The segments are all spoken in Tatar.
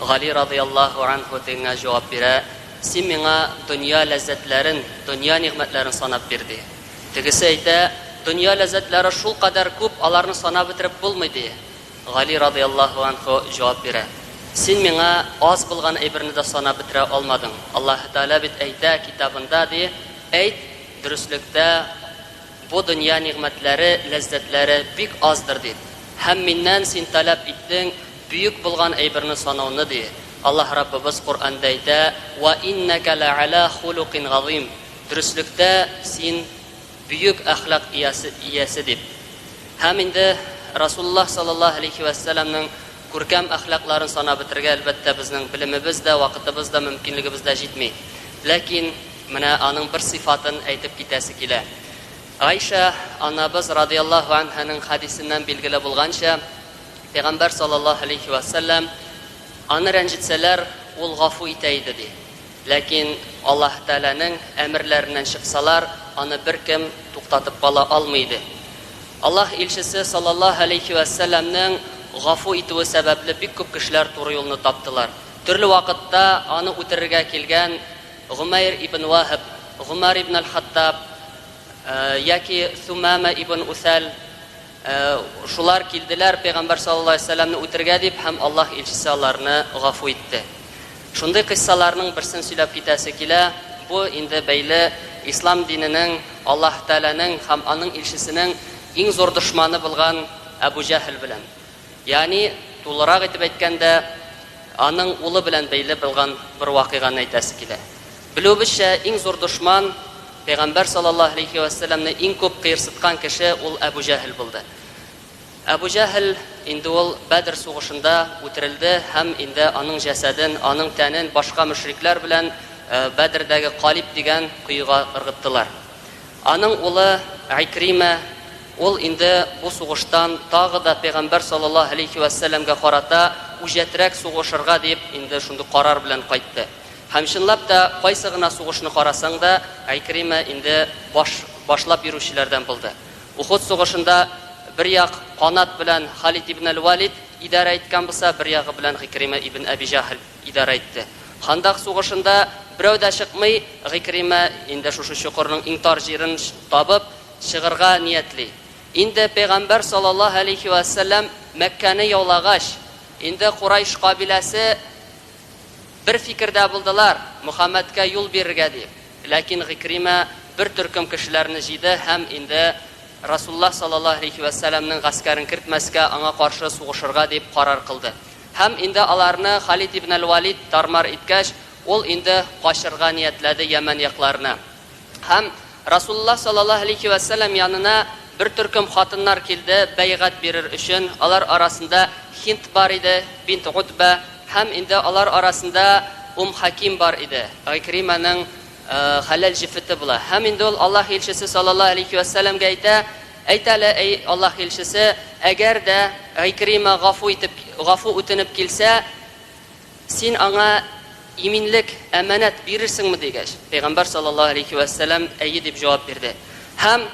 Гали разыяллаһу анһу тегеңә җавап бирә, Син миңа дөнья ләззәтләрен, дөнья нигъмәтләрен санап бир, ди. Тегесе әйтә, Дөнья ләззәтләре шулкадәр күп, аларны санап бетереп булмый, ди. Гали разыяллаһу анһу җавап бирә, Син миңа аз булган әйберне дә санап бетерә алмадың. Аллаһы Тәгалә бит әйтә Китабында, ди, Әйт, дөреслектә, Бу дөнья нигъмәтләре, ләззәтләре бик аздыр, ди. Һәм миннән син таләп иттең бөек булган әйберне санауны, ди. Аллаһ Раббыбыз Коръәндә әйтә, Вә иннәкә лә'әлә хулукин газыйм, Дөреслектә син бөек әхлак иясе, дип. Һәм инде Расулуллаһ саллаллаһу галәйһи вә сәләмнең Күркәм әхлакларын санап бетерергә, әлбәттә, безнең белемебез дә, вакытыбыз да, мөмкинлегебез дә җитми. Ләкин менә аның бер сыйфатын әйтеп китәсе килә. Гайшә анабыз радыяллаһу әнһаның хәдисеннән билгеле булганча, Пәйгамбәр саллаллаһу галәйһи вә сәлләм, Аны рәнҗетсәләр, ул гафу итә иде, ди. Ләкин Аллаһ Тәгаләнең әмерләреннән чыксалар, аны беркем туктатып кала алмый иде. Аллаһ илчесе саллаллаһу галәйһи вә сәлләмнең гафу итүе сәбәпле бик күп кешеләр туры юлны таптылар. Төрле вакытта аны үтерергә килгән Гомәйр ибн Ваһб, Гомәр ибн әл-Хаттаб яки Сумама ибн Усәл, Шулар килделәр пәйгамбәр саллаллаһу алейһи ва сәлләмне үтергә дип, һәм Аллаһ илчесе аларны гафу итте. Шундый кыйссаларның берсен сөйләп китәсе килә, бу инде бәйле ислам диненең, Аллаһ Тәгаләнең һәм аның илчесенең иң зур дошманы булган Әбү Җәһл белән. Ягъни, тулырак итеп әйткәндә, аның улы белән бәйле булган бер вакыйганы әйтәсе килә. Белүебезчә, иң зур дошман, Пәйгамбәр саллаллаһу галәйһи вә сәлләмне иң күп кыерсыткан кеше ул Әбү Җәһел булды. Әбү Җәһел, инде ул Бәдер сугышында үтерелде һәм инде аның җәсәден, аның тәнен башка мөшрикләр белән Бәдердәге Калиб дигән коега ыргыттылар. Аның улы Икримә Ул инде бу сугыштан тагы да пәйгамбәр саллаллаһу галәйһи вә сәлләмгә карата үҗәтрәк сугышырга дип инде шундый карар белән кайтты. Һәм чынлап та кайсы гына сугышны карасаң да Гайкримә инде баш башлап йөрүчеләрдән булды. Ухуд сугышында бер як канат белән Халид ибн әл-Валид идарә иткән булса, бер ягы белән Гыйкримә ибн Әби Җәһл идарә итте. Хандак сугышында берәү дә чыкмый, Гыйкримә инде шушы чокырның иң тар җирен табып, чыгырга ниятли. Инде пәйгамбәр салаллаһу әләйһи вә сәлләм Мәккәне яулагач, инде Курайш кабиләсе бер фикердә булдылар, Мөхәммәдкә юл бирергә дип. Ләкин Гыйкримә бер төркем кешеләрне җыйды һәм инде Расуллаһ салаллаһу әләйһи вә сәлләмнең гаскәрен кертмәскә, аңа каршы сугышырга дип карар кылды. Һәм инде аларны Халид ибн әл-Валид тар-мар иткәч, ул инде качырга ниятләде Йәмән якларына. Һәм Расулуллаһ саллаллаһу алейһи вә сәлләм янына бер төркем хатыннар килде, бәйгать бирер өчен. Алар арасында Һинд бар иде, бинт Утбә, һәм инде алар арасында Ум Хәким бар иде, Гыйкримәнең хәләл җефете була. Һәм инде ул Аллаһ илчесе саллаллаһу алейһи вә сәлләмгә әйтә, Әйт әле, әй Аллаһ илчесе, әгәр дә Гыйкримә гафу итеп, гафу үтенеп килсә, Син аңа иминлек, әманәт, бирерсеңме? дигәч, пәйгамбәр саллаллаһу галәйһи вә сәлам, әйе дип җавап бирде. Һәм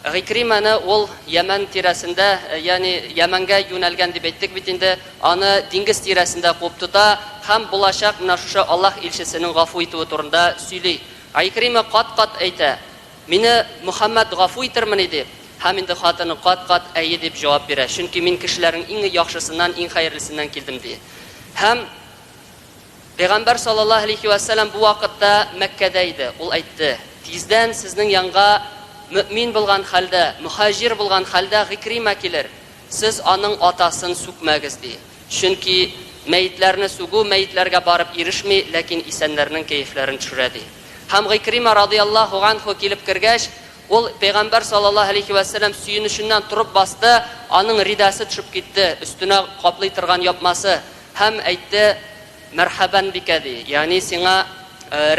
Гыйкримәне ул Ямән тирәсендә, ягъни Ямәнгә юнәлгән дип әйттек бит инде, аны диңгез тирәсендә куып тота һәм булачак менә шушы Аллаһ илчесенең гафу итүе турында сөйли. Гыйкримә кат-кат әйтә, Мине Мөхәммәт гафу итермени? ди. Һәм инде хатыны кат-кат әйе дип җавап бирә, чөнки мин кешеләрнең иң яхшысыннан, иң хәерлесеннән килдем, ди. Һәм Пәйгамбәр саллаллаһу әләйһи вә сәлам бу вакытта Мәккәдә иде. Ул әйтте, Тиздән сезнең янга мөэмин булган хәлдә, мөхаҗир булган хәлдә Гыйкримә килер, сез аның атасын сүкмәгез, ди. Чөнки мәетләрне сүгү мәетләргә барып ирешми, ләкин исәннәрнең кәефләрен төшерә, ди. Һәм Гыйкримә радыяллаһу ганһу килеп кергәч, ул Пәйгамбәр саллаллаһу галәйһи вә сәлләм сөенеченнән торып басты, аның ридасы төшеп китте, өстенә каплый торган япмасы, һәм әйтте, Мәрхәбән бикә, ди, ягъни сиңа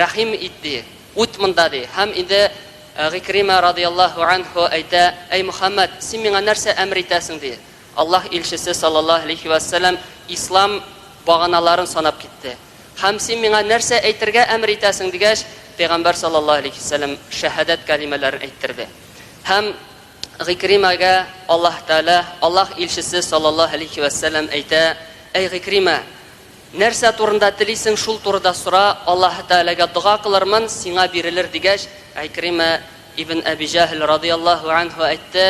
рәхим ит, ди, үт монда, ди. Һәм инде Гыйкримә радыяллаһу ганһу әйтә, Әй Мөхәммәд, син миңа нәрсә әмер итәсең, ди. Аллаһ илчесе, салләллаһу галәйһи вә сәлам, ислам баганаларын санап китте. Һәм син миңа нәрсә әйтергә әмер итәсең? дигәч, пәйгамбәр, салләллаһу галәйһи вә сәлам, шәһадәт кәлимәләрен әйттерде. Һәм Гыйкримәгә Аллаһ Тәгалә, Аллаһ илчесе, салләллаһу галәйһи вә сәлам, әйтә, Әй Гыйкримә! Нәрсә турында телисең, шул турыда сора, Аллаһ Тәгаләгә дога кылырмын, сиңа бирелер, дигәч, Гыйкримә ибн Әби Җәһл, радый Аллаһу әнһү, әйтте,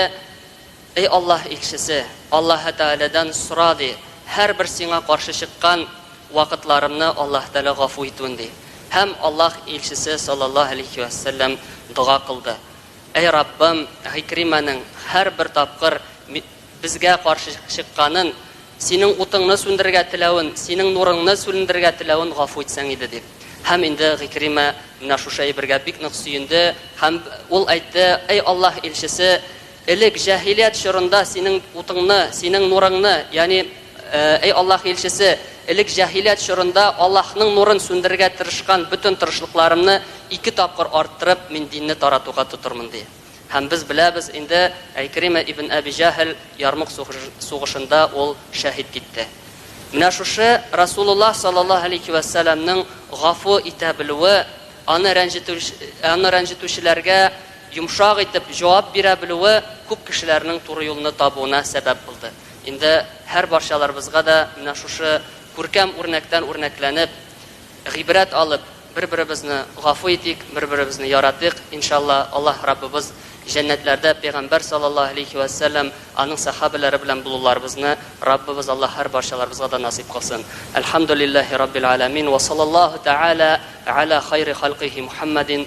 Эй Аллаһ Илчесе! Аллаһы Тәгаләдән сора, ди, һәрбер сиңа каршы чыккан вакытларымны Аллаһы Тәгалә гафу итүен, ди. Һәм Аллаһ Илчесе салләллаһу галәйһи вә сәлләм дога кылды, Әй Раббым, Гыйкримәнең һәрбер тапкыр безгә каршы чыкканын, Синең утыңны сүндерергә теләвен, Синең нурыңны сүлендерергә теләвен гафу итсәң иде, дип. Һәм инде Гыйкримә менә шушы әйбергә бик нык сөенде һәм ул әйтте, Әй Аллаһ Илчесе! Элек, җаһилият чорында, синең утыңны, синең нурыңны, ягъни, Эй Аллаһ Илчесе, элек җаһилият чорында Аллаһның нурын сүндерергә тырышкан бөтен тырышлыкларымны ике тапкыр арттырып, мин динне таратуга тотырмын, ди. Һәм без беләбез инде, Әйкримә ибн Әби Җәһл Ярмук сугышында ул шәһит китте. Менә шушы Расулуллаһ саллаллаһу галәйһи вә сәламнең гафу итә белүе, аны рәнҗетү, аны рәнҗетүчеләргә, йомшак итеп җавап бирә белүе күп кешеләрнең туры юлны табуына сәбәп булды. Инде һәрбарчаларыбызга да менә шушы күркәм үрнәктән үрнәкләнеп, гыйбрәт алып, бер-беребезне гафу итик, бер-беребезне яратыйк, иншалла, Аллаһ Раббыбыз җәннәтләрдә Пәйгамбәр саллаллаһу әләйһи вә сәлләм, аның сәхабәләре белән булуларыбызны Раббыбыз Аллаһ һәрбарчаларыбызга да насыйп кылсын. Әлхәмдүлилләһи раббил аләмин, вә саллаллаһу тәгалә гәлә хайри халкыйһи Мухәммәдин,